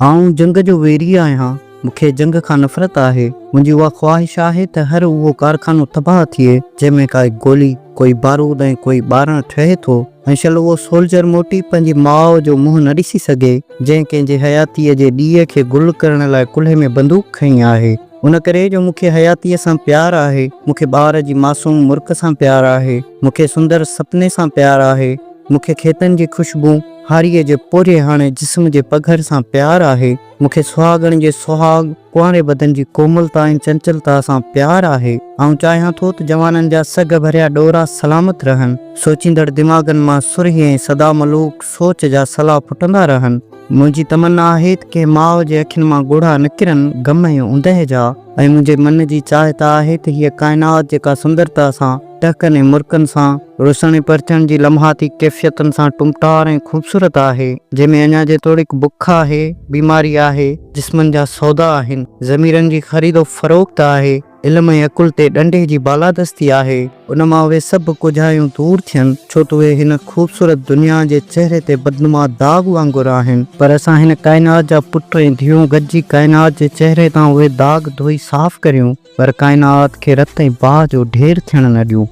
آئون جنگ جو ويري آهيان، مون کي جنگ کان نفرت آهي، منهنجي اها خواهش آهي ته هر اهو ڪارخانو تباهه ٿئي جنهن ۾ ڪائي گولي، ڪوئي بارود ۽ ڪوئي ٻارڻ ٺهي ٿو ۽ شل اهو سولجر موٽي پنهنجي ماء جو منهن نه ڏسي سگهي جنهن ڪنهن جي حياتيء جي ڏيئي کي گل ڪرڻ لاء ڪلهي ۾ بندوق کنئي آهي. ان ڪري جو مون کي حياتيء سان پيار آهي، مون کي ٻار جي معصوم مرڪ سان پيار آهي، مون کي سندر سپني سان پيار آهي، مون کي کيتن جي خوشبو، هاريء جي پورهياڻي جسم جي پگهر سان پيار آهي، مون کي سهاڳڻ جي سهاڳ، ڪنواري بدن جي ڪوملتا ۽ چنچلتا سان پيار آهي. آئون چاهيان ٿو ته جوانن جا سگهه ڀريا ڏورا سلامت رهن، سوچيندڙ دماغن مان سرهي ۽ سدا ملوڪ سوچ جا سلا ڦٽندا رهن. منهنجي تمنا آهي ته ڪنهن ماء جي اکين مان ڳوڙها نه ڪرن غم ۽ اوندهه جا ۽ منهنجي من جي چاهت آهي ته هيء ڪائنات جيڪا سندرتا سان، ٽهڪن ۽ مرڪن سان، روشن ۽ پرچڻ جي لمحاتي ڪيفيتن سان ٽمٽار ۽ خوبصورت آهي، جنهن ۾ اڃا جيتوڻيڪ بک آهي، بيماري آهي، جسمن جا سودا آهن، ضميرن جي خريد و فروخت آهي، علم ۽ عقل تي ڏنڊي جي بالادستي آهي، ان مان اهي سڀ ڪوجهايون دور ٿين، ڇو ته اهي هن خوبصورت دنيا جي چهري تي بدنما داغ وانگر آهن، پر اسان هن ڪائنات جا پٽ ۽ ڌيئون گڏجي ڪائنات جي چهري تان اهي داغ ڌوئي صاف ڪريون، پر ڪائنات کي رت ۽ باهه جو ڍير ٿيڻ نه ڏيون.